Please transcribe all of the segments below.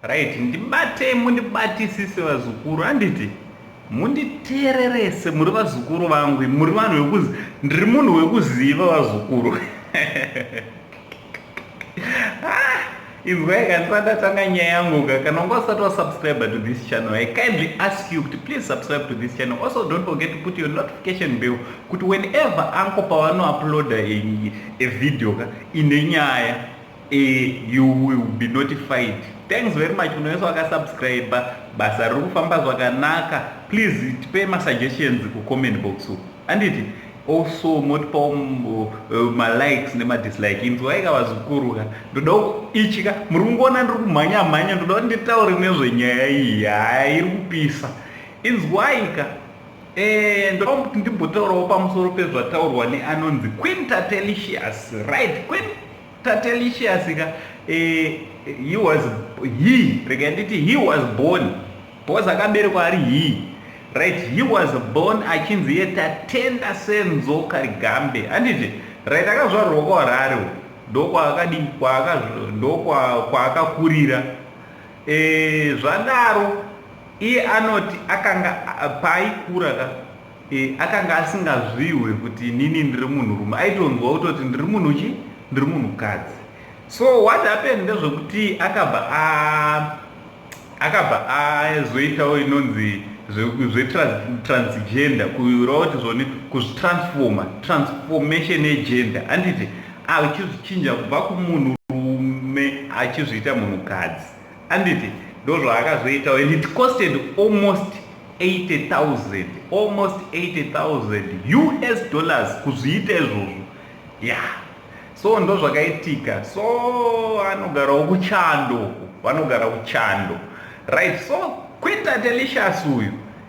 Right, ndibatei mundibatisise vazukuru handiti munditeererese muri vazukuru vangu muri vanhu vekuzi ndiri munhu wekuziva vazukuru ah, inzwai kandisandatanga nyaya yangu ka kana unga usati wasubscribe to this channel i kindly ask you kuti please subscribe to this channel also don't forget to put your notification bell kuti whenever anko pavanouploada a video ka ine nyaya Eh, you will be notified. Thanks very much kune wese wakasubscribe. Basa riri kufamba zvakanaka. Please tipe masuggestions kucomment box uku. Handiti? also motipawo uh, uh, malikes nemadislike inzwaika vazukuru ka ndoda ichi ka muri kungoona ndiri kumhanya mhanya ndoda kuti nditaure nezvenyaya iyi haa iri kupisa inzwaika eh, ndoda kuti ndimbotaurawo pamusoro pezvataurwa neanonzi quinta telicious right quinta Tatelicious ka eh, he was he rega nditi he was born because akaberekwa ari he right he was born achinzi iye tatenda senzo karigambe handiti right akazvarwa kwaharare ndokwaakadi ndokwaakakurira eh, zvadaro iye anoti akanga paaikura ka E, akanga asingazvihwe kuti inini ndiri munhurume aitonzwa kutoti ndiri munhu chi ndiri munhukadzi so what happened ndezvekuti akabva a akabva azoitawo inonzi zvetransgender kuura kuti zvoni kuzvitransforma transformation yegender anditi achizvichinja kubva kumunhurume achizviita munhukadzi Anditi ndozvaakazoitawo and it costed almost 80,000 almost 80,000 US dollars kuzviita izvozvo yeah so ndozvakaitika so anogarawo kuchando vanogara kuchando right so quinta delicious uyu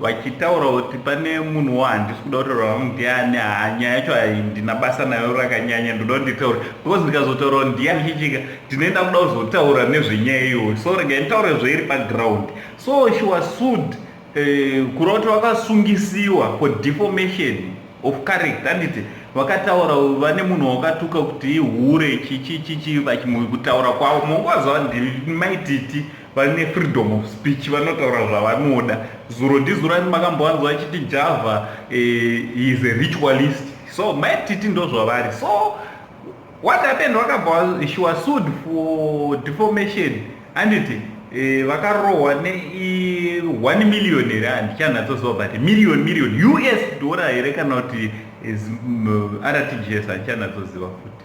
vachitaura kuti pane munhu wahandisi kuda kutaura vangu ndiani haa nyaya yacho handina basa nayo rakanyanya ndoda kunditaura because ndikazotaura ndiani chichika ndinoenda kuda kuzotaura nezvenyaya iyoyo so rega nditaure zvairi paground so she was sued eh, kureva kuti vakasungisiwa for deformation of character handiti vakataura vane munhu wakatuka kuti ihure chichichichi vachimukutaura kwavo mongwaziva ndiri maititi vane freedom of speech vanotaura zvavanoda zuro ndizuro ani makambowanzwa achiti java eh, is a ritualist so maititi ndozvavari so what happened wakabva she was sued for deformation handiti eh, vakarohwa ne 1 million here handichanatsoziva but million million us dora here kana kuti eh, mm, rtgs handichanatsoziva futi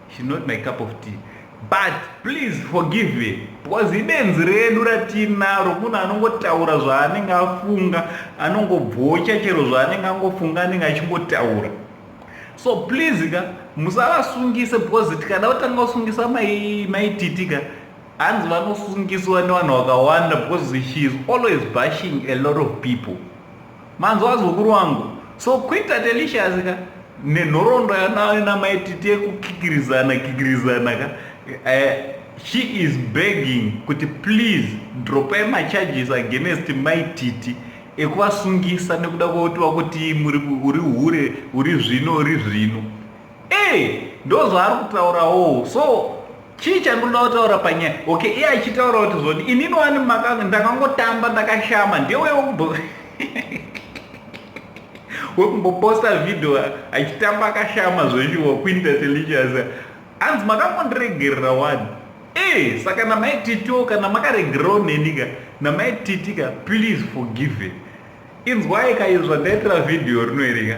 She's not my cup of tea but please forgive her because ibenzi redu ratiinaro munhu anongotaura zvaanenge afunga anongobhocha chero zvaanenge angofunga anenge achingotaura so please ka musavasungise because tikada kutanga kusungisa maititi ka hanzi vanosungiswa nevanhu vakawanda because she is always bashing a lot of people Manzwa zukuru wangu. So Queen Tatelicious ka nenhoroondo yanayo namai titi yekukikirizana kikirizana ka eh, she is begging kuti please dropai macharges against mai titi ekuvasungisa nekuda kwekuti vakuti uri hure uri zvino uri zvino Hey, ndozvaari kutaurawo so chii chandinoda kutaura panyaya okay iye achitaura kuti zvoni inini wani makanga ndakangotamba ndakashama ndewe wekubo wekumboposta video achitamba akashama zveshuwa kuinda telicious hanzi makangondiregerera wani e saka namaititiwo kana makaregererawo nenika namaititika please forgive inzwai kaizvandaitira video rinoerika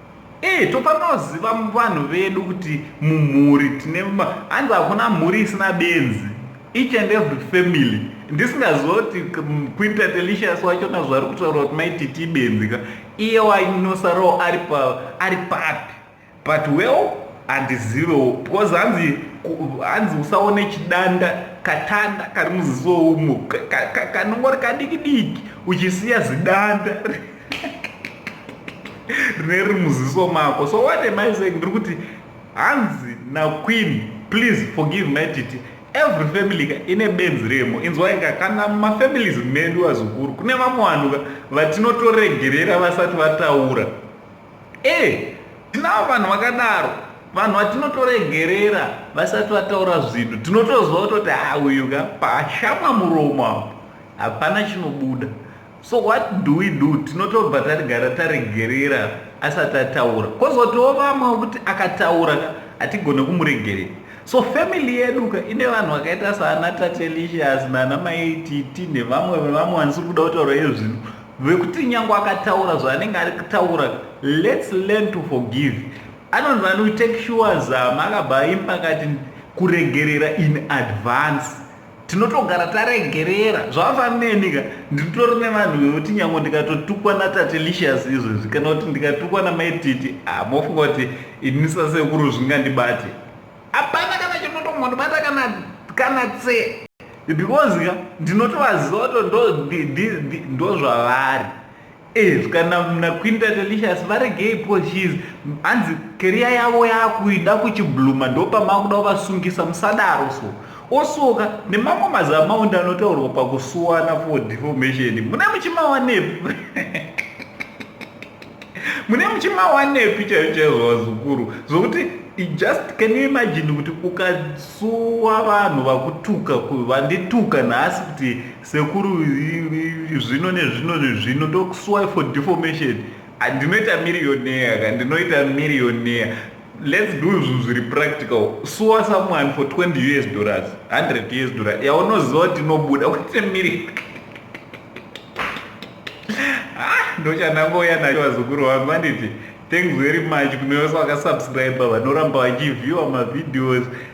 Eh tofanoziva vanhu vedu kuti mumhuri tine hanzi hakuna mhuri isina benzi each and every family ndisingaziva kuti queen tatelicious wachona zvaari kutaura kuti maititi ibenzi ka iye wainosarawo ari papi but well handizivewo because hanzi hanzi usaone chidanda katanda kari muziso umo kanongori kadiki diki uchisiya zidanda rine riri muziso mako so what am i saying ndiri kuti hanzi naqueen please forgive my titi every family ka ine benzi remo inzwaika kana mumafamilies medu vazukuru kune vamwe vanhu ka vatinotoregerera vasati vataura e eh, tinavo vanhu vakadaro vanhu vatinotoregerera vasati vataura zvinhu tinotozwa kutoti ha ah, uyu ka pashama muromo apo hapana chinobuda So what do we do? Tinotobva tarigara taregerera asati ataura. Kozotiwo vamwe kuti akataura ka hatigone kumuregerera. So family yedu ka ine vanhu vakaita saana Tatelicious naana Mai Titi nevamwe vevamwe vanisiri kuda kutaura iye zvino vekuti nyangwe akataura zvaanenge ari kutaura let's learn to forgive. Anonzi vanoti take sure zama akabva aimba akati kuregerera in advance. tinotogara taregerera zvavafaneni ka nditori nevanhu vekuti nyango ndikatotukwa natatelicious izvezvi kana kuti ndikatukwa namaititi ah, mofunga kuti ini sasekuru zvingandibate hapana kana chinotombondibata kana kana tse because ka ndinotovaziva to ndozvavari Is kana mnakwinda delicious varegei po shes hanzi keriya yavo yakuida kuchibluma ndopamakuda kuvasungisa musadaro so osoka nemamwe mazamaundi anotaurwa pakusuwana for deformation mune muchimawanepi mune muchimawanepi chaiyo chaizvo vazukuru zvokuti just can you imagine kuti ukasuwa vanhu vakutuka vandituka nhasi kuti Sekuru zvino nezvino nezvino ndokusuwai for deformation ndinoita millionaire ka ndinoita millionaire let's do zvinhu zviri practical suwa someone for 20 us dollars 100 us dollar yaunoziva kuti inobuda uite miri ah, ndochandangoya nacho vazukuru vangu vanditi thanks very much kune vese vakasubscribe vanoramba vachivhiewa mavideos